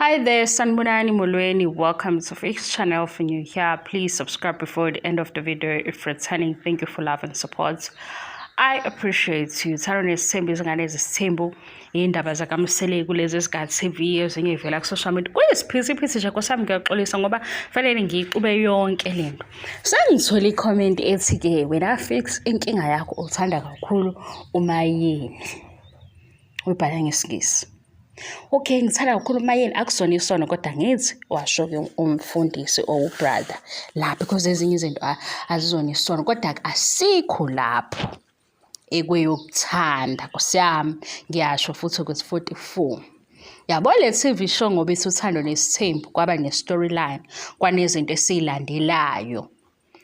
Hi there, Sanbonani Molweni. Welcome to Fix channel. If you're here, please subscribe before the end of the video. If returning, thank you for love and support. I appreciate you. Thando nesithembu izingane ezisithembu iy'ndaba zakamsele kulezi zikhathi TV ezinye ivela ku-social media. Kuyisiphithiphithi nje nkosami ngiyaxolisa ngoba fanele ngiyixube yonke le nto. Sengithole ikhomenti ethi-ke wena Fix inkinga yakho uthanda kakhulu umayini. uyibhala ngesingisi okay ngithanda kakhulu umayeni akusona isono kodwa ngithi washo ke umfundisi or ubrother la because ezinye izinto azizona isono kodwa asikho lapho ekweyokuthanda kusiyami ngiyasho futhi ukuthi 44 yabo le TV show ngoba ithi uthando nesithembu kwaba ne storyline kwanezinto esilandelayo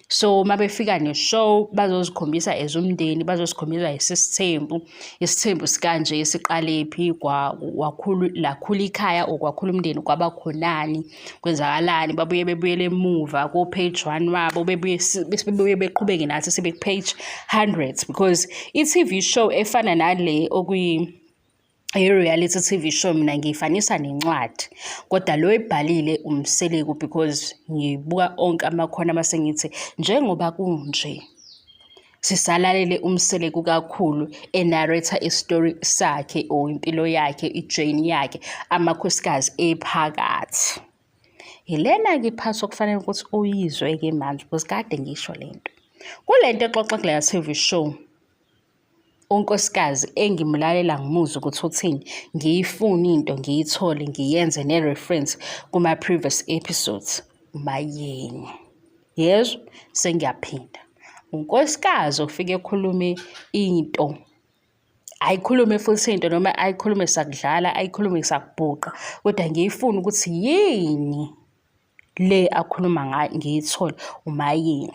so uma befika ne-show bazozikhombisa as umndeni bazosikhombisa isisithembu isithembu sikanje siqalephi lakhula ikhaya or kwakhula umndeni kwabakhonani kwenzakalani babuye bebuyele emuva ko-page one wabo bebuye beqhubeke nathi sebe-page hundreds because i-tv show efana nale okuyi i-reality TV show mina ngiyifanisa nencwadi kodwa lo ebhalile umseleku because ngibuka onke amakhona mase ngithi njengoba kunje sisalalele umseleku kakhulu enarrator istory sakhe or impilo yakhe ijourney yakhe amakhosikazi ephakathi yilena-ke iphathi okufanele ukuthi uyizwe-ke manje because kade ngisho le nto kule nto exoxa kule TV show unkosikazi engimlalela ngimuzwe ukuthi uthini ngiyifune into ngiyithole ngiyenze ne-reference kuma-previous episodes mayeni yezwa sengiyaphinda unkosikazi ofike ekhulume into ayikhulume futhi into noma ayikhulume sakudlala ayikhulume sakubhuqa kodwa ngiyifuna ukuthi yini le akhuluma ngayo ngiyithole umayeni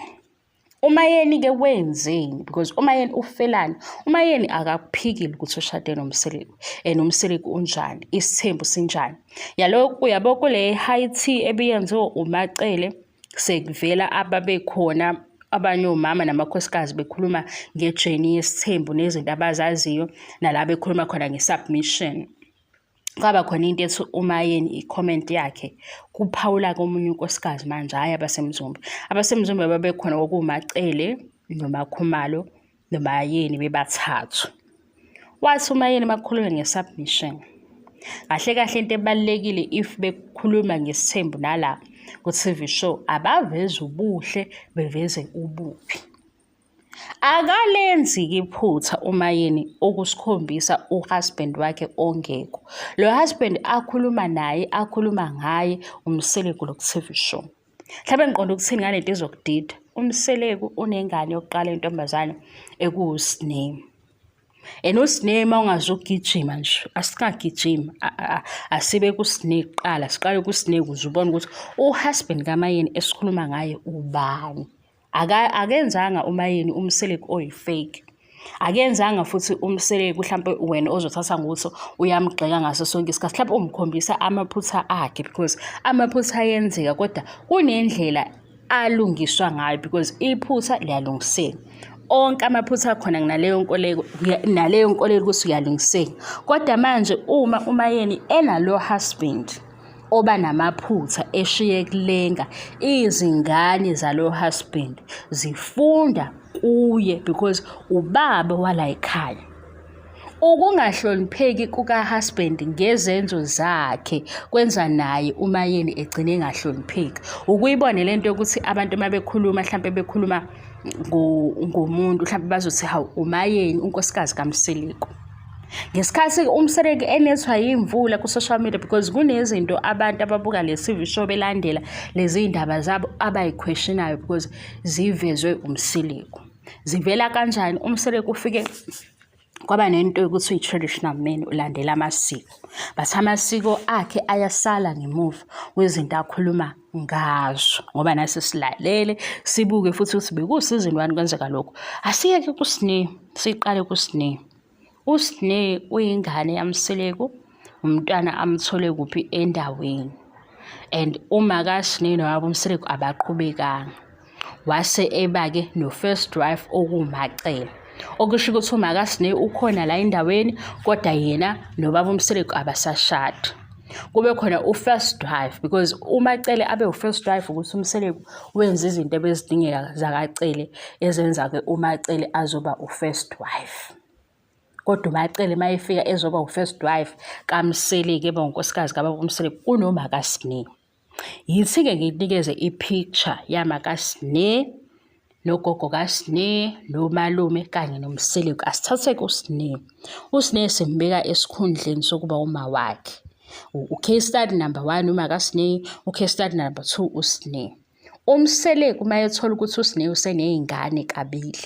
umayeni-ke wenzeni because umayeni ufelani umayeni akakuphikile ukuthi ushade nomseleku and umseleku unjani isithembu sinjani yalo uyabo kule high tea ebiyenziwe umacele sekuvela ababekhona abanye omama namakhosikazi bekhuluma ngejeni yesithembu nezinto abazaziyo nala bekhuluma khona nge-submission kwaba khona into ethi umayeni i-comment yakhe kuphawula komunye unkosikazi manje hhayi abasemzumbe abasemzumbe babekhona kwakuwumacele nomakhumalo nomayeni bebathathu wathi umayeni makukhulume nge-submission kahle kahle into ebalulekile if bekhuluma ngesithembu nala ku-tv show abaveze ubuhle beveze ubuphi akalenzi iphutha uma yini ukusikhombisa uhusband wakhe ongekho lo husband akhuluma naye akhuluma ngaye umseleku lo ku-tv show mhlawumbe ngiqonda ukuthini ngale nto izokudida umseleku unengane yokuqala intombazane ekuwusiname and usiname uma ungazugijima nje asingagijimi asibe kusine kuqala siqale kusine kuze ubone ukuthi uhusband kamayeni esikhuluma ngaye ubani akenzanga umayeni umseleki oyifake akenzanga futhi umseleki mhlampe wena ozothatha ngokuthi uyamgxeka ngaso sonke isikhathi mhlawumbe umkhombisa amaphutha akhe because amaphutha ayenzeka kodwa kunendlela alungiswa ngayo because iphutha liyalungiseka onke amaphutha akhona naleyo nkoleko naleyo nkolelo ukuthi uyalungiseka kodwa manje uma umayeni enalo husband oba namaphutha eshiye kulenga izingane zalo husband zifunda kuye because ubaba wala ekhaya ukungahlonipheki kuka-husband ngezenzo zakhe kwenza naye umayeni egcine engahlonipheki ukuyibone le nto yokuthi abantu uma bekhuluma mhlawumpe bekhuluma ngomuntu mhlawumpe bazothi hawu umayeni unkosikazi kamsiliko ngesikhathi umsereki enethwa yimvula ku-social media because kunezinto abantu ababuka le TV show belandela lezi ndaba zabo abayiquestionayo because zivezwe umsiliku zivela kanjani umsiliku ufike kwaba nento yokuthi uyi-traditional man ulandela amasiko but amasiko akhe ayasala ngemuva kwezinto akhuluma ngazo ngoba nase silalele sibuke futhi ukuthi bekusizini wani kwenzeka lokho asiyeke kusine siqale kusine usine uyingane yamseleku umntwana amthole kuphi endaweni and uma kasine nowabo umseleku abaqhubekanga wase eba-ke no-first wife okuwumacela okusho ukuthi umakasine ukhona la endaweni kodwa yena nobaba umseleku abasashadi kube khona u-first wife because umacele abe u-first wife ukuthi umseleku wenza izinto ebezidingeka zakacele ezenza-ke umacele azoba u-first wife kodwa umacele uma efika ezoba u-first wife kamseleku eba unkosikazi kababa umseleku kunomakasine Yithi-ke nginikeze i-picture yamakasne nogogo kasne nomalume kanye nomseleku asithathe-ke usne usne simbeka esikhundleni sokuba uma wakhe u-case study number one umakasne u-case study number two usne umseleku uma ethola ukuthi usne useney'ngane kabili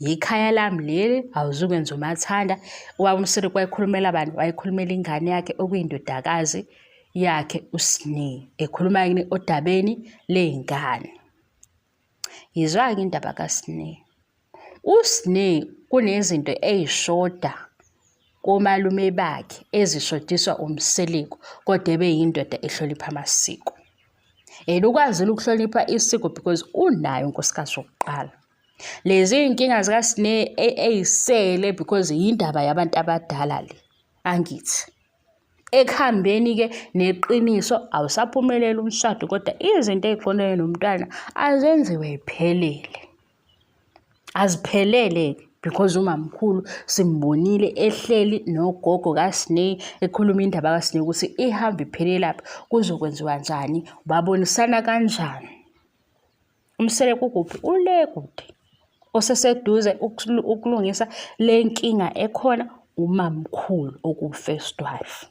yikhaya lami leli awuzukwenza umathanda ubaba umsiri kwayikhulumela abantu wayikhulumela ingane yakhe okuyindodakazi yakhe usni ekhuluma yini odabeni ley'ngane yizwa-ke indaba kasni usni kunezinto ey'shoda komalume bakhe ezishodiswa umseliko kodwa ebe yindoda ehlonipha amasiko and ukwazile ukuhlonipha isiko because unayo unkosikazi wokuqala Lezi iy'nkinga zikaSne ey'sele because yindaba yabantu abadala le, angithi. Ekuhambeni-ke neqiniso awusaphumeleli umshado kodwa izinto ey'qondene nomntwana azenziwe y'phelele. Aziphelele-ke because umamkhulu simbonile ehleli nogogo kaSne ekhuluma indaba kaSne ukuthi ihambe iphelelaphi, kuzokwenziwa njani, babonisana kanjani. Umsele kukuphi? Ule kude. Oseseduze ukulungisa le nkinga ekhona umamkhulu okuwu-first wife.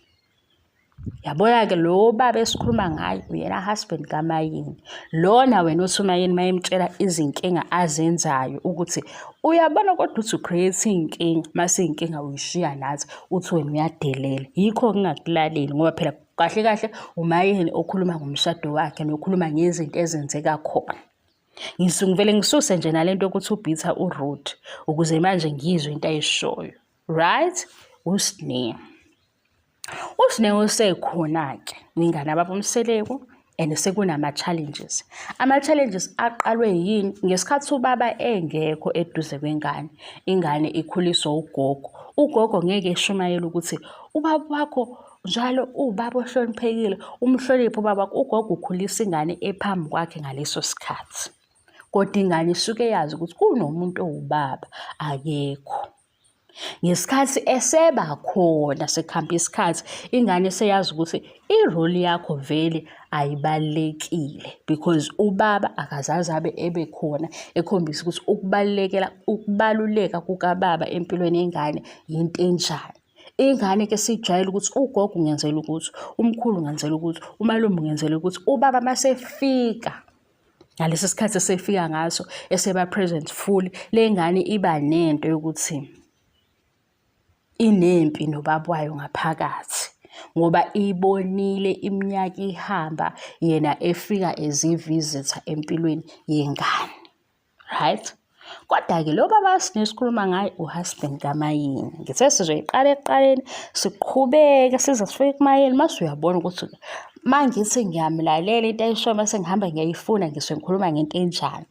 Yabona-ke lo baba esikhuluma ngaye uyena husband kaMayini. Lona wena othi uMayini uma emtshela izinkinga azenzayo ukuthi uyabona kodwa uthi u-create iy'nkinga, uma siy'nkinga uyishiya nathi, uthi wena uyadelela. Yikho ngingakulaleli ngoba phela Kahle kahle umayeni okhuluma ngomshado wakhe nokhuluma ngezinto ezenzeka khona. Ngisungivele ngisuse nje nalento yokuthi ubhitha uRoot ukuze manje ngizwe into ayishoyo. Right? Usne. Usne usekhona ke. Ngingane ababomseleku and sekunama-challenges ama-challenges aqalwe yini ngesikhathi ubaba engekho eduze kwengane ingane ikhuliswa ugogo ugogo ngeke eshumayele ukuthi ubaba wakho njalo uwubaba ohloniphekile umhloniphe ubaba wakho ugogo ukhulisa ingane ephambi kwakhe ngaleso sikhathi kodwa ingane isuke yazi ukuthi kunomuntu owubaba akekho ngesikhathi eseba khona sekuhambe isikhathi ingane seyazi ukuthi iroli yakho vele ayibalulekile because ubaba akazazi abe ebe khona ekhombisa ukuthi ukubalulekela ukubaluleka kukababa empilweni yengane yinto enjani ingane ke sijwayele ukuthi ugogo ungenzela ukuthi umkhulu ungenzela ukuthi umalume ungenzela ukuthi ubaba masefika ngalesi sikhathi esefika ngaso eseba present full le ngane iba nento yokuthi inempi nobaba wayo ngaphakathi ngoba ibonile iminyaka ihamba yena efika as i-visitor empilweni yengane. right Kodwa-ke lo baba esigcine sikhuluma ngaye uhusband kaMayeni. Ngithe sizoyiqala ekuqaleni siqhubeke size sifike kuMayeni mase uyabona ukuthi uma ngithi ngiyamlalela into ayishoyo mase ngihamba ngiyayifuna ngisuke ngikhuluma ngento enjani.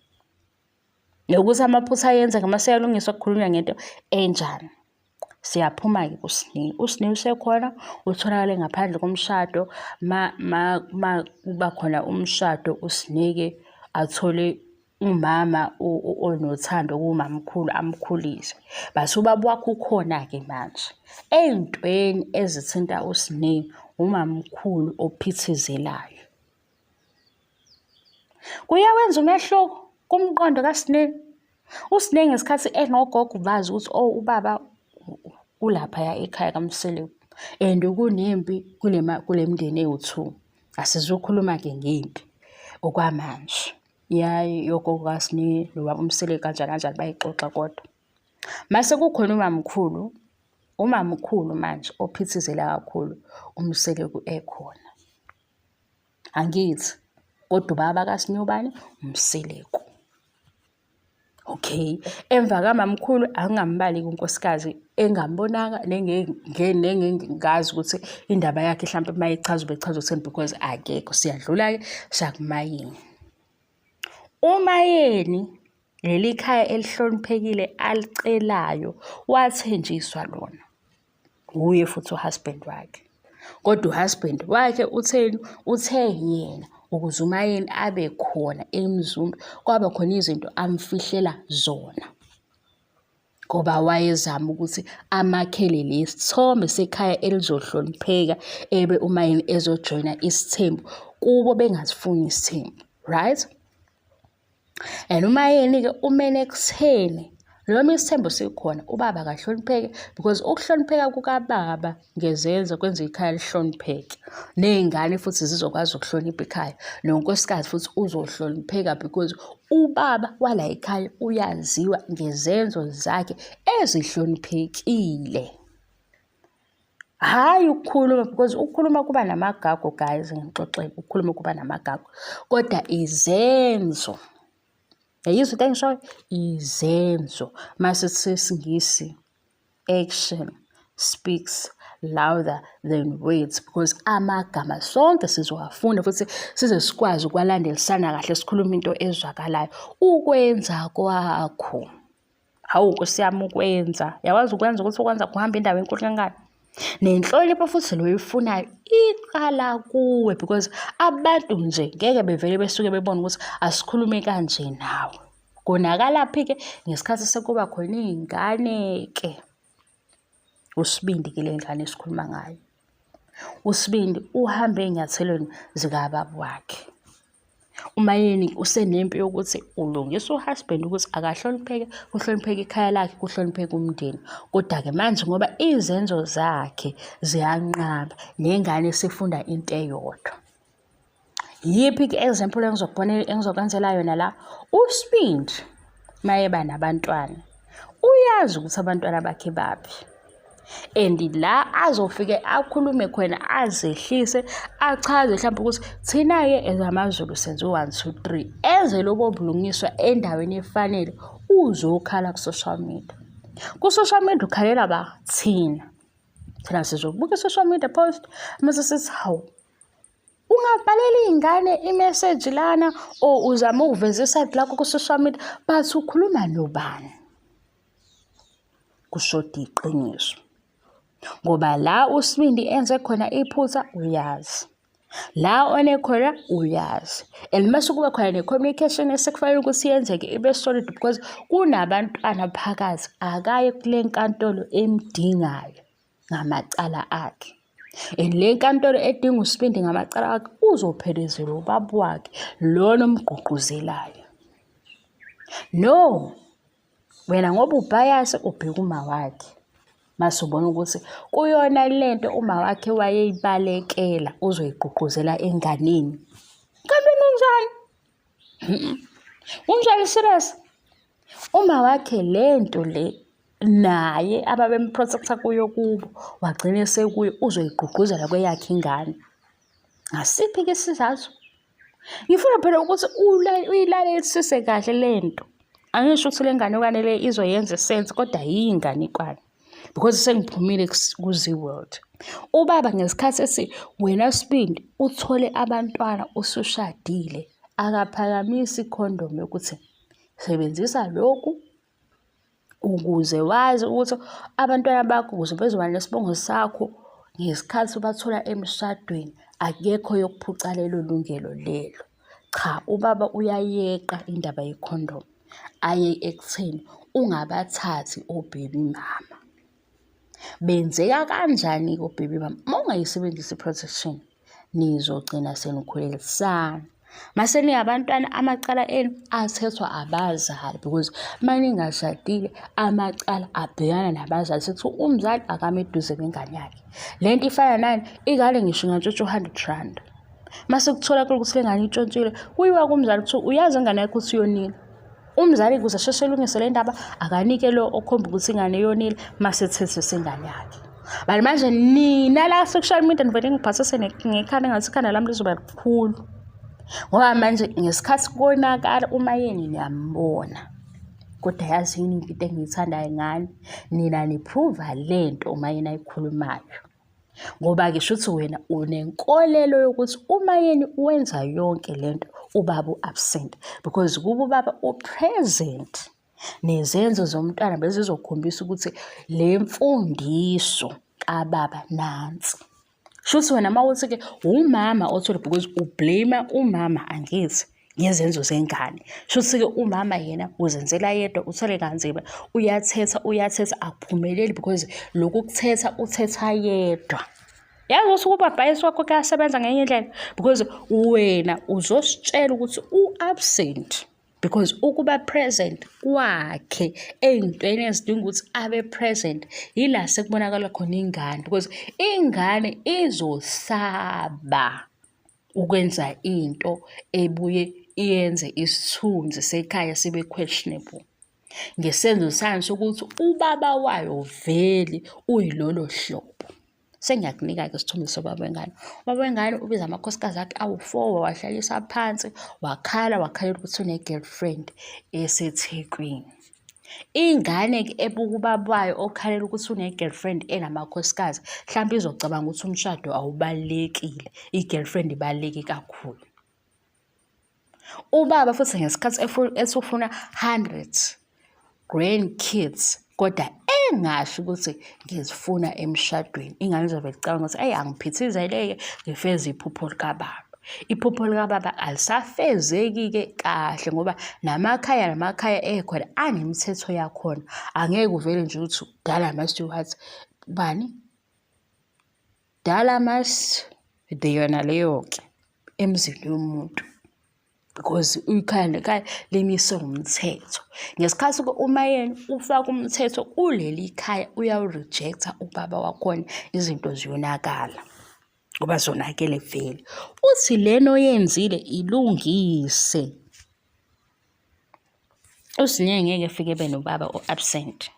Nokuthi amaphutha ayenzeka mase uyalungiswa kukhulunywa ngento enjani. Siyaphuma-ke kuSne. USne usekhona utholakale ngaphandle komshado ma ma ma kuba khona umshado uSne-ke athole umama onothando kumamkhulu amkhulise. Base ubaba wakho ukhona-ke manje. Ey'ntweni ezithinta uSne umamkhulu ophithizelayo. Kuyawenza umehluko kumqondo kaSinenge. USinenge ngesikhathi enogogo bazi ukuthi oh ubaba ulaphaya ekhaya kaMseleku and kunempi kule kule mndeni ewu-two. Asizukhuluma-ke ngempi okwamanje. Yayi yogogo kaSinenge nobaba uMseleku kanjani kanjani bayixoxa kodwa. Mase kukhona umamkhulu, umamkhulu manje ophithizela kakhulu uMseleku ekhona. angithi kodwa ubaba kaSinyobane umseleku okay emva kamamkhulu angingambali kunkosikazi engambonanga nengengazi ukuthi indaba yakhe mhlawumpe uma ichaza ubechaza ukutheni because akekho siyadlula-ke sakumayini umayeni leli khaya elihloniphekile alicelayo wathenjiswa lona wuye futhi uhusband wakhe kodwa uhusband wakhe utheni uthe yena ukuze umayeni abe khona emzumbe kwaba khona izinto amfihlela zona ngoba wayezama ukuthi amakhele lesithombe sekhaya elizohlonipheka ebe umayini ezojoyina isithembu kubo bengazifuni isithembu right and uma yini-ke umele ekutheni noma isithembo sikhona ubaba akahlonipheke because ukuhlonipheka kukababa ngezenzo kwenza ikhaya lihlonipheke ney'ngane futhi zizokwazi ukuhlonipha ikhaya nonkosikazi futhi uzohlonipheka because ubaba wala ikhaya uyaziwa ngezenzo zakhe ezihloniphekile hhayi ukukhuluma because ukukhuluma kuba namagago guys ngixoxeke ukukhuluma kuba namagago kodwa izenzo yayizwa into engishoyo izenzo masithi singisi action speaks louder than words because amagama sonke sizowafunda futhi size sikwazi ukwalandelisana kahle sikhuluma into ezwakalayo ukwenza kwakho hawu nkosi yami ukwenza yakwazi ukwenza ukuthi ukwenza kuhamba indawo enkulu kangani nenhlonipho futhi loyifunayo iqala kuwe because abantu nje ngeke bevele besuke bebone ukuthi asikhulume kanje nawe konakalaphi-ke ngesikhathi sekuba khona iy'ngane-ke usibindi ke le ngane esikhuluma ngayo usibindi uhambe ey'nyathelweni zikababa wakhe umayeni usenempi yokuthi ulungisa uhusband ukuthi akahlonipheke kuhlonipheke ikhaya lakhe kuhlonipheke umndeni kodwa-ke manje ngoba izenzo zakhe ziyanqaba nengane sifunda into eyodwa yiphi ke example engizokubonela engizokwenzela yona la usibindi mayeba nabantwana uyazi ukuthi abantwana bakhe baphi and la azofike akhulume khona azehlise achaze mhlawumbe ukuthi thina-ke ezamazulu senze u-one two three enze lobo bulungiswa endaweni efanele uzokhala ku-social media ku-social media ukhalela ba thina thina sizobuka i-social media post mase sithi hawu ungabhalela iy'ngane imeseji lana or uzama ukuveza isayidi lakho ku-social media but ukhuluma nobani kushoda iqiniso ngoba la usibindi enze khona iphutha uyazi la onekhona uyazi and uma sekuba khona ne-communication esekufanele ukuthi yenzeke ibe solid because kunabantwana phakathi akaye kule nkantolo emdingayo ngamacala akhe and le nkantolo edinga usibindi ngamacala akhe uzophelezelwa ubaba wakhe lona omgqugquzelayo no wena ngoba ubhayase ubheka uma wakhe mase ubona ukuthi kuyona le nto uma wakhe wayeyibalekela uzoyigqugquzela enganeni kanti nenjani Unjalo serious? Uma wakhe lento le naye ababemprotecta kuyo kubo wagcina esekuyo uzoyigqugquzela kweyakhe ingane. Ngasiphi ke isizathu? Ngifuna phela ukuthi uyilalelise kahle lento. Angisho ukuthi le nganekwane le izoyenza isense kodwa yiyinganekwane. because sengiphumile ku-zee world ubaba ngesikhathi esi wena sibindi uthole abantwana usushadile akaphakamisi ikhondomu yokuthi sebenzisa lokhu ukuze wazi ukuthi abantwana bakho ukuze bezoba nesibongo sakho ngesikhathi ubathola emshadweni akekho yokuphuca lelo lungelo lelo Cha ubaba uyayeqa indaba yekhondom aye ekutheni ungabathathi obhebi mama. Benzeka kanjani-ke obhebi mama? Uma ungayisebenzisi i-protection nizogcina senikhulelisana. Mase niyabantwana amacala enu athethwa abazali because uma ningashadile amacala abhekana nabazali sekuthiwa umzali akame eduze nengane yakhe. Le nto ifana nani? Ingane ngisho ingatshotshwa u-hundred rand. uma sekutholakala ukuthi le ngane intshontshile kuyiwa kumzali kuthiwa uyazi ingane yakho ukuthi yonile umzali kuze asheshe elungise le ndaba akanike lo okhomba ukuthi ingane yonile uma sethethisa ingane yakhe but manje nina la social media nivele ngiphathise ngekhanda ngathi ikhanda lami lizoba likhulu ngoba manje ngesikhathi konakala uma yeni niyambona kodwa yazi yini into engiyithandayo ngani nina niphruva le nto uma yena ayikhulumayo Ngoba-ke shuthi wena unenkolelo yokuthi uma yena wenza yonke le nto ubaba u-absent because kuba ubaba u-present nezenzo zomntwana bezizokhombisa ukuthi le mfundiso kababa nansi. Shuthi wena uma uthi-ke wumama othole because ublame umama angithi. ngezenzo zengane shuthi-ke umama yena uzenzela yedwa uthole kanzima uyathetha uyathetha akuphumeleli because lokhu kuthetha uthetha yedwa yazi ukuthi ukubhabhayisi wakho kuyasebenza ngenye indlela because wena uzositshela ukuthi u-absent because ukuba present kwakhe ey'ntweni ezidinga ukuthi abe present yila sekubonakala khona ingane because ingane izosaba ukwenza into ebuye iyenze isithunzi sekhaya sibe questionable ngesenzo sayo sokuthi ubaba wayo vele uyilolo hlobo sengiyakunika-ke isithombe sobaba wengane ubaba wengane ubiza amakhosikazi akhe awu-four wawahlalisa phansi wakhala wakhalela ukuthi une-girlfriend esethekwini Ingane ke ebuka ubaba wayo okhalela ukuthi une-girlfriend enamakhosikazi, hlampe izocabanga ukuthi umshado awubalulekile, i-girlfriend ibaluleke kakhulu. Ubaba futhi ngesikhathi esufuna hundred grandkids kodwa engasho ukuthi ngizifuna emshadweni ingane izobe icabanga ukuthi ayi angiphithizeleke ngifeze iphupho likababa iphupho likababa alisafezeki-ke kahle ngoba namakhaya namakhaya ekhona anemithetho yakhona angeke uvele nje ukuthi dala ama-stewart bani dala mas deyona leyo-ke emzini yomuntu because ikhaya nekhaya limiswe ngumthetho ngesikhathi uma yena ufaka umthetho kuleli khaya uyawurijektha ubaba wakhona izinto ziyonakala ngoba zonakele vele uthi lena oyenzile ilungise usinye ngeke fike benobaba o-absent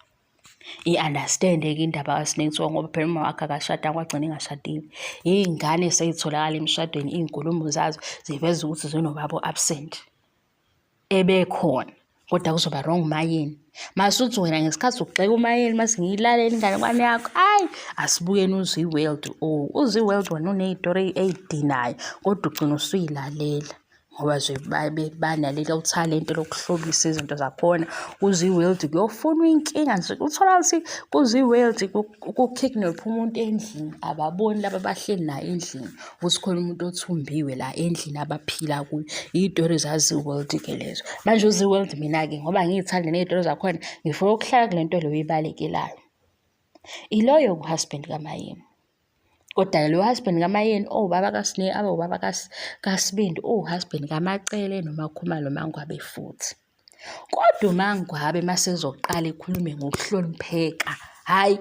i-understand-ke indaba kaSnake kuthiwa ngoba phela umama wakhe akashadanga kwagcina ingashadile iy'ngane seyitholakala emshadweni iy'nkulumo zazo ziveza ukuthi zinobabo absent ebekhona kodwa kuzoba wrong umayeni masuthi wena ngesikhathi ugxeka umayeni mase ngiyilalela ingane kwani yakho ayi asibukeni uzwi-world o oh, uzwi-world wena uney'tori ey'dinayo kodwa ugcina usuyilalela ngoba nje babe banalelo thalente lokuhlobisa izinto zakhona kuziworld kuyofunwa inkinga nje uthola ukuthi kuziworld kukidnapha umuntu endlini ababoni laba abahleli naye endlini ukuthi khona umuntu othumbiwe la endlini abaphila kuyo iy'tori zaziworld-ke lezo manje uziworld mina-ke ngoba ngiyithande ney'tori zakhona ngifuna ukuhlala kule nto leyo ibalekelayo iloyo-ke uhusband kamayini kodwa lo husband kamayeni owubaba oh, kasine abe ubaba kasibindi uwuhusband oh, kamacele nomakhumalo mangwabe futhi kodwa umangwabe masezoqala ekhulume ngokuhlonipheka hayi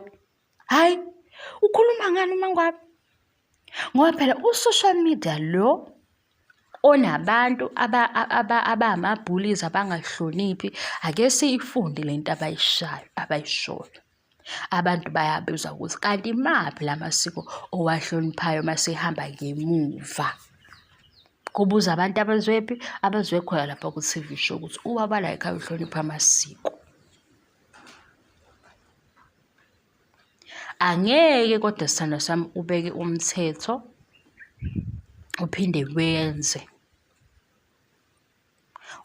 hayi ukhuluma ngani umangwabe ngoba phela u-social media lo onabantu abama-bullies abangahloniphi ake siyifunde le nto abayishayo abayishoyo Abantu bayabuza ukuthi kanti imaphi la masiko owahloniphayo uma sihamba ngemuva? Kubuza abantu abazwephi? Abazwe khona lapha ku-TV show ukuthi ubaba la ekhaya uhlonipha amasiko. Angeke kodwa sithandwa sami ubeke umthetho uphinde wenze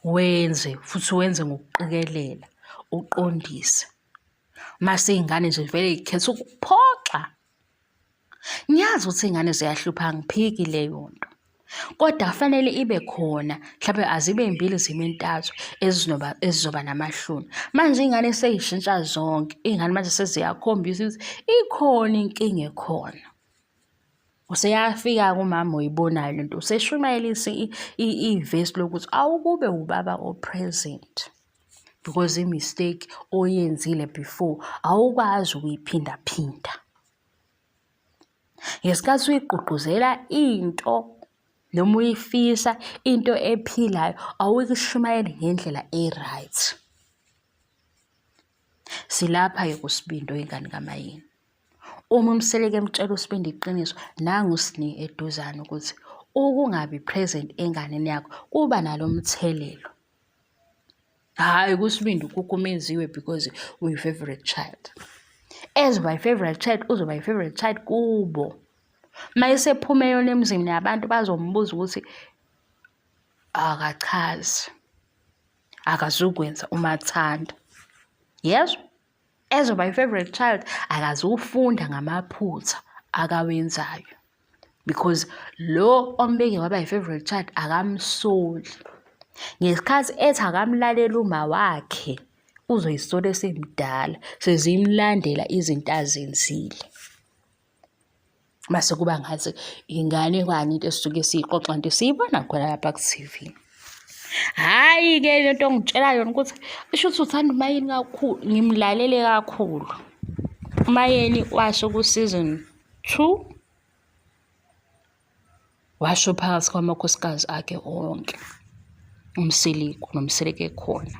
wenze futhi wenze ngokuqikelela uqondise mase iy'ngane nje vele y'khetha ukuphoxa ngiyazi ukuthi iy'ngane ziyahlupha ngiphiki leyo nto kodwa kufanele ibe khona mhlawumbe azibe mbili zime ntathu ezinoba ezizoba namahloni manje ingane seyishintsha zonke ingane manje seziyakhombisa ukuthi ikhona inkinga ekhona useyafika kumama oyibonayo lento useshumayelisa ivesi lokuthi awukube ubaba opresent because i-mistake oyenzile before awukwazi ukuyiphindaphinda ngesikhathi uyigqugquzela into noma uyifisa into ephilayo awuyishumayeli ngendlela e-right silapha ke kusibindi oyingane kamayini uma umseleke emtshela usibindi iqiniso nangu sini eduzane ukuthi ukungabi present enganeni yakho kuba nalomthelelo hayi kusibindi ukhukumeziwe because uyi-favorite child as my favorite child uzoba yi-favorite child kubo uma esephuma eyona emzini yabantu bazombuza ukuthi akachazi akazukwenza umathanda yezwa Ezwa my favorite child akazufunda ngamaphutha akawenzayo because lo ombeke waba yi-favorite child akamsoli ngesikhathi ethi akamlaleli uma wakhe uzoyisola esemdala sezimlandela izinto azenzile mase kuba ngathi ingane kwani into esisuke siyixoxa nto siyibona khona lapha ku-tv hhayi-ke le nto ngitshela yona ukuthi isho ukuthi uthanda umayeni kakhulu ngimlalele kakhulu umayeni washo ku-season two washo phakathi kwamakhosikazi akhe onke umsiliku nomsileke ekhona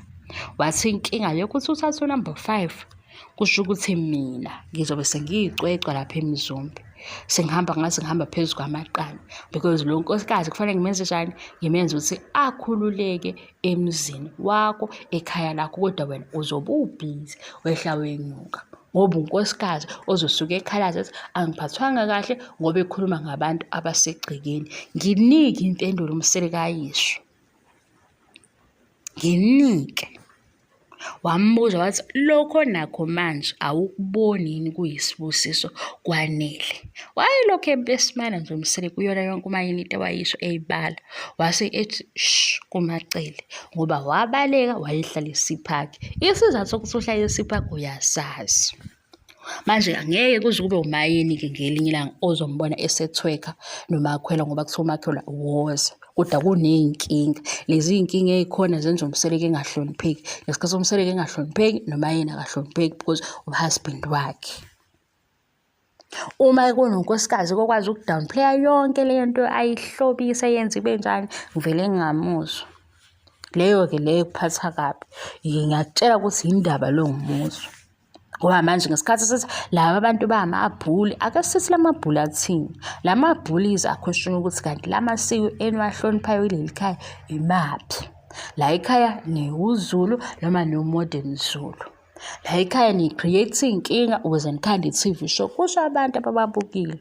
wathi inkinga yokuthi uthathe unumber five kusho ukuthi mina ngizobe sengiyicwecwa lapha emizombe sengihamba ngaze ngihamba phezu kwamaqanda because lo nkosikazi kufanele ngimenze njani ngimenze ukuthi akhululeke emzini wakho ekhaya lakho kodwa wena uzobe ubhizi wehla wenyuka ngoba unkosikazi ozosuke ekhalaza ethi angiphathwanga kahle ngoba ekhuluma ngabantu abasegcekeni nginike impendulo umsele kayisho nginike Wambuza wathi, Lokho nakho manje awukuboni yini kuyisibusiso kwanele? Wayelokhu ebesimana nje uMsele kuyona yonke uMayini into awayisho eyibala. Wase ethi shh kuMacele ngoba wabaleka wayehlalisa iphakhi. Isizathu sokuthi uhlalisa iphakhi uyasazi. manje ngeke kuze kube umayini-ke ngelinye ilanga ozombona esethweka nomakhwela ngoba kuthiwa umakhwela woze kodwa kuney'nkinga lezi y'nkinga ey'khona zenza umseleke engahlonipheki ngesikhathi somseleke engahlonipheki noma yena akahlonipheki because uhusband wakhe uma kunonkosikazi kokwazi ukudownplaya yonke le nto ayihlobise yenza ibe njani ngivele ngingamuzwa leyo-ke leyo kuphatha kabi ngiyakutshela ukuthi yindaba longumuzwa ngoba manje ngesikhathi sithi laba bantu bamabhuli ake sithi la mabhuli athini la mabhuli yize akhweshona ukuthi kanti la masiko eniwahloniphayo kuleli khaya imaphi la ekhaya niwuzulu noma niwumodern zulu la ekhaya ni-create iy'nkinga ukuze nikhande i-tv show kusho abantu abababukile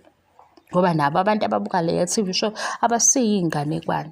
ngoba nabo abantu ababuka leya tv show abasiyiy'nganekwane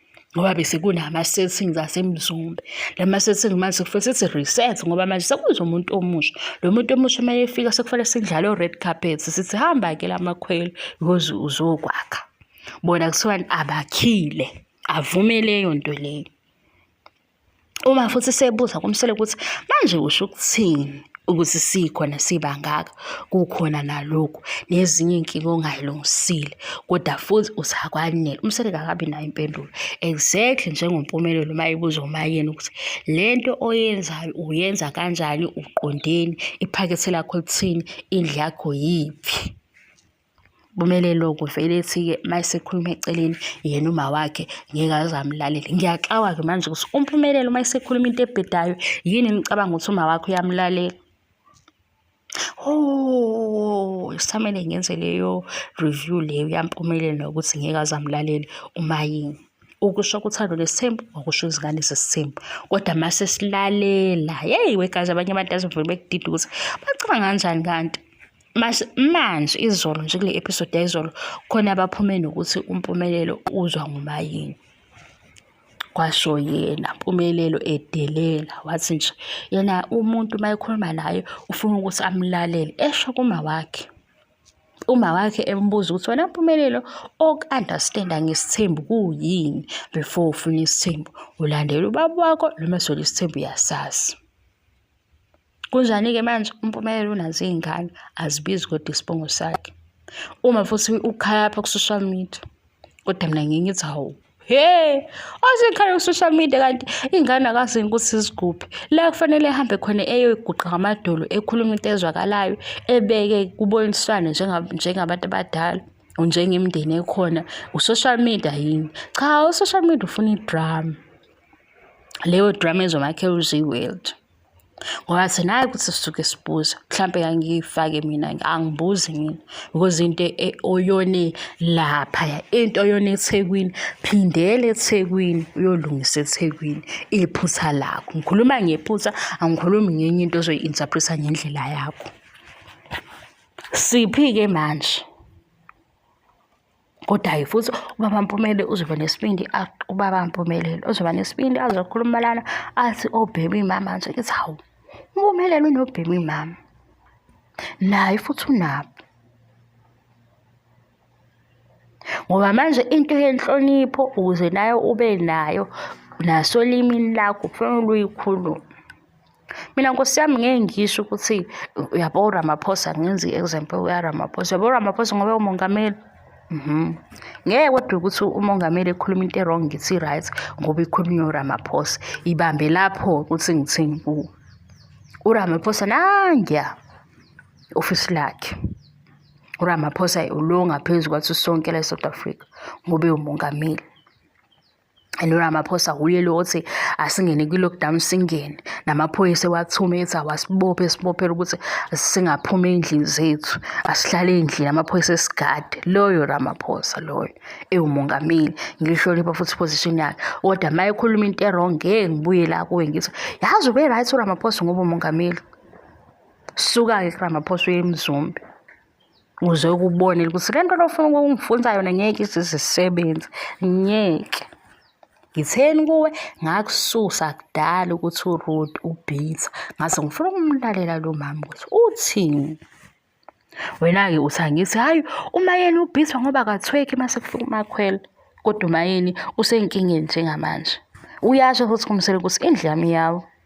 ngoba bese kunama-settings asemzumbe la ma-setting manje sekufanele sithi reset ngoba manje sekuze umuntu omusha lo muntu omusha uma efika sekufanele sidlale o-red carpet sithi hamba-ke la makhwelo because uzokwakha bona kuthiwani abakhile avumeleyo nto leyo uma futhi sebuza kumsele ukuthi manje usho ukuthini ukuthi sikhona sibangaka kukhona nalokhu nezinye inkinga ongayilungisile kodwa futhi usakwanele umsebenzi akabi nayo impendulo exactly njengompumelelo uma ibuza umayeni ukuthi le nto oyenzayo uyenza kanjani uqondeni iphakethe lakho lithini indlu yakho yiphi kumele lokho vele ethi-ke uma esekhuluma eceleni yena uma wakhe ngeke aze amlalele ngiyaxawa-ke manje ukuthi umphumelelo uma esekhuluma into ebhedayo yini nicabanga ukuthi uma wakhe uyamlalela Oh, samele ngenze leyo review leyo yampumelelo nokuthi ngeke aze amlalele uma yini ukusho kuthando lesithembu okusho izingane zesithembu kodwa uma sesilalela yeyi wegazi abanye abantu azivele bekudida ukuthi bacabanga kanjani kanti manje izolo nje kule episode yayizolo khona abaphume nokuthi umpumelelo uzwa ngumayini kwasho yena mpumelelo edelela wathi nje yena umuntu uma ekhuluma naye ufuna ukuthi amlalele esho kuma wakhe uma wakhe embuza ukuthi wena mpumelelo oku-understanda ngesithembu kuyini before ufuna isithembu ulandela ubaba wakho noma sona isithembu uyasazi Kunjani-ke manje umpumelelo unazo iy'ngane azibizi kodwa isibongo sakhe uma futhi ukhaya apha ku-social media kodwa mina ngiye ngithi hawu he osekhaya ku-social media kanti iy'ngane akazini ukuthi ziguphi la kufanele ehambe khona eyoyiguqa ngamadolo ekhuluma into ezwakalayo ebeke kuboniswane njengabantu abadala njengemndeni ekhona u-social media yini cha u-social media ufuna idrama leyo drama ezomakhela uziwelto ngoba thina hayi ukuthi sisuke sibuza mhlampe ngangiyifake mina angibuzi mina because into e-, oyone lapha into oyone eThekwini phindele eThekwini uyolungisa eThekwini iphutha lakho ngikhuluma ngephutha angikhulumi ngenye into ozoyi-interpreta ngendlela yakho siphi-ke manje kodwa-ke futhi ubaba Mpumele uzoba nesibindi ubaba Mpumelelo uzoba nesibindi azokhuluma lana athi obhemi mama nje kithi hawu Mpumelelo unobhemi mama naye futhi unabo ngoba manje into yenhlonipho ukuze nayo ube nayo nasolimini lakho kufanele uyikhulume Mina nkosi yami ngeke ngisho ukuthi uyabo uRamaphosa ngenza i-example uRamaphosa. Uyabo uRamaphosa ngoba umongameli. Mhm. Ngeke kodwa ukuthi umongameli ekhuluma into e-wrong ngithi i-right ngoba ikhulunywa uRamaphosa. Ibambe lapho ukuthi ngithini kuwe. URamaphosa nangiya ofisi lakhe. URamaphosa ulo ngaphezu kwathi sonke la e-South Africa ngoba ewumongameli. noramaphosa wuye lo othi asingene kwi-lockdown singene namaphoyisa ewathume ethi awasibophe esibophela ukuthi singaphumi ey'ndlini zethu asihlale ey'ndlini amaphoyisa esigade loyo ramaphosa loyo ewumongameli ngilihlonipha futhi iposition yakhe kodwa uma ekhuluma into erong ngeke ngibuye la kuwe ngithi yazi ube right uramaphosa ngoba umongameli suka-ke kuramaphosa uye emzumbe uze ukubonele ukuthi le nto lofuna ukungifunza yona ngeke izizisebenzi ngeke ngitheni kuwe ngakususa kudala ukuthi uroad ubhiza ngaze ngifuna ukumlalela lo mama ukuthi uthini wena-ke uthi angithi hhayi umayeni ubhiza ngoba kathweki uma sekufika umakhwela kodwa umayeni usenkingeni njengamanje uyasho futhi kumsele ukuthi indlu yami yawo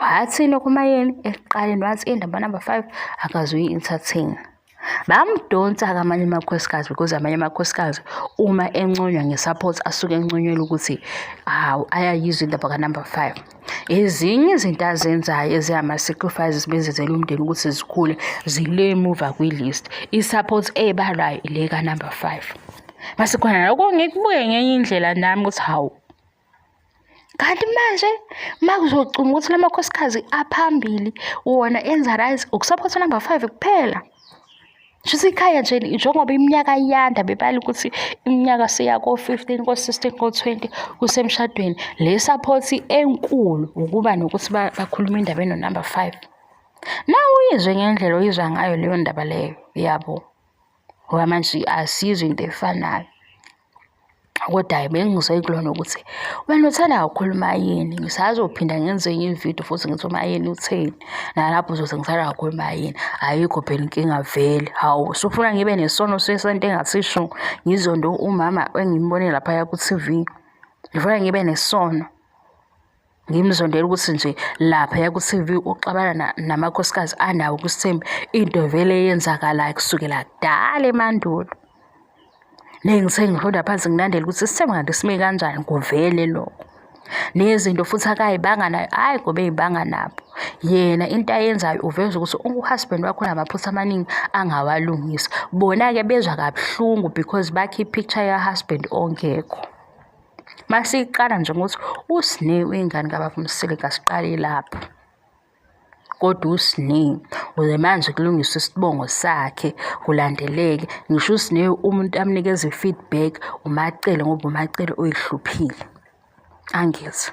wathini okumayeni ekuqaleni wathi indaba number five akazuyi entertain bamdonsa kamanye amakhosikazi because amanye amakhosikazi uma enconywa nge-support asuke enconyelwa ukuthi hawu ayayizwa indaba kanumber five ezinye izinto azenzayo ezingama-sacrifices benzenzela umndeni ukuthi zikhule zile muva kwi-list i-support ebalwayo ile kanumber five mase khona lokho ngikubuke ngenye indlela nami ukuthi hawu kanti manje uma kuzocunga ukuthi la makhosikazi aphambili wona enza right ukusaphothwa number five kuphela shuthi ikhaya nje njengoba iminyaka iyanda bebala ukuthi iminyaka seya ko-fifteen ko-sixteen ko-twenty kusemshadweni le saphothi enkulu ukuba nokuthi bakhulume indaba enonumber five na uyizwe ngendlela oyizwa ngayo leyo ndaba leyo yabo ngoba manje asizwe into efanayo kodwa hhayi bengizwe kulona ukuthi wena uthanda kakhulu umayini ngisazophinda ngenze enye ividiyo futhi ngithi umayini utheni nalapho uzothi ngithanda kakhulu umayini ayikho phela inkinga vele hawu usufuna ngibe nesono sesento engasisho ngizonto umama engimbone laphaya ku-tv ngifuna ngibe nesono ngimzondela ukuthi nje laphaya ku-tv uxabana namakhosikazi anawo kusithembi into vele eyenzakalayo kusukela kudala emandulo nengithe ngifunda phansi ngilandela ukuthi isithembi kanti sime kanjani kuvele lokho nezinto futhi akayibanga nayo hhayi ngoba eyibanga nabo yena into ayenzayo uveza ukuthi uhusband wakho unamaphutha amaningi angawalungisa bona-ke bezwa kabuhlungu because bakhe i-picture yahusband ongekho Masiqala nje ngokuthi uSne uyingane kababa uMsile kasiqali lapho. Kodwa uSne uze manje kulungiswe isibongo sakhe kulandeleke ngisho uSne umuntu amnikeza i-feedback uMacele ngoba uMacele uyihluphile. Angizwa.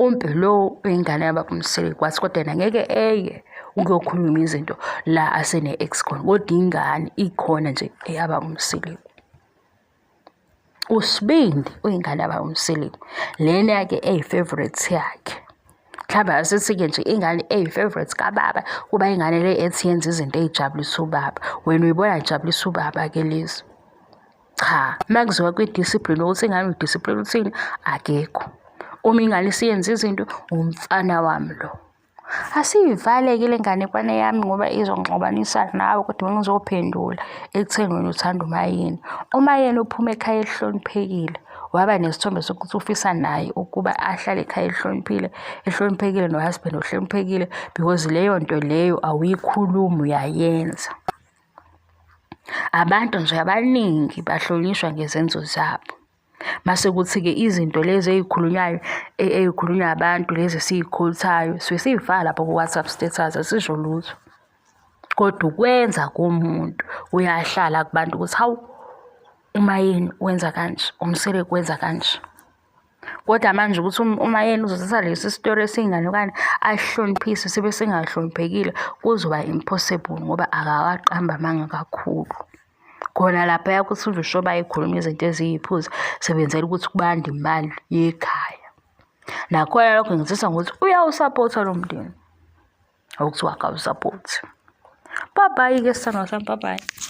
umbe lowo ingane yababa umsele kwathi kodwa yena ngeke eye ukuyokhuluma izinto la asene-ex khona kodwa ingane ikhona nje eyababa umseleku usibindi uyingane yababa umseleku lena yake eyi-favorite yakhe mhlawumbe asithi-ke nje ingane eyi-favorite kababa kuba ingane le ethi yenza izinto eyijabulisa ubaba wena uyibona ijabulisa ubaba-ke lezi cha makuziwa kwi-discipline ukuthi ingane udiscipline uthini akekho uma ingane isiyenza izinto umfana wami lo asiyivaleke le nganekwane yami ngoba izongixabanisa nawe kodwa ngizophendula ekutheni wena uthanda umayeni umayeni uphuma ekhaya elihloniphekile waba nesithombe sokuthi ufisa naye ukuba ahlale ekhaya elihloniphile ehloniphekile nohusband ohloniphekile because leyo nto leyo awuyikhulumi uyayenza Abantu nje abaningi bahlonishwa ngezenzo zabo. Mase kuthi-ke izinto lezi ey'khulunywayo e, ey'khulunywa abantu lezi esiy'khothayo suke siy'faka lapho ku-WhatsApp status asisho lutho. Kodwa ukwenza komuntu uyahlala kubantu ukuthi hawu uMayeni wenza kanje, uMseleku wenza kanje. kodwa manje ukuthi um, uma yena uzozisa lesi sitori esiyingane okanye ahloniphise sibe singahloniphekile kuzoba impossible ngoba akawaqamba amanga kakhulu khona lapha yakuthi uzosho bayikhuluma izinto eziyiphuzi sebenzela ukuthi kubande imali yekhaya nakhona lokho ngizisa ngokuthi uyawusapotha lo mndeni okuthiwa akawusaphothi babayi-ke sithando sami babayi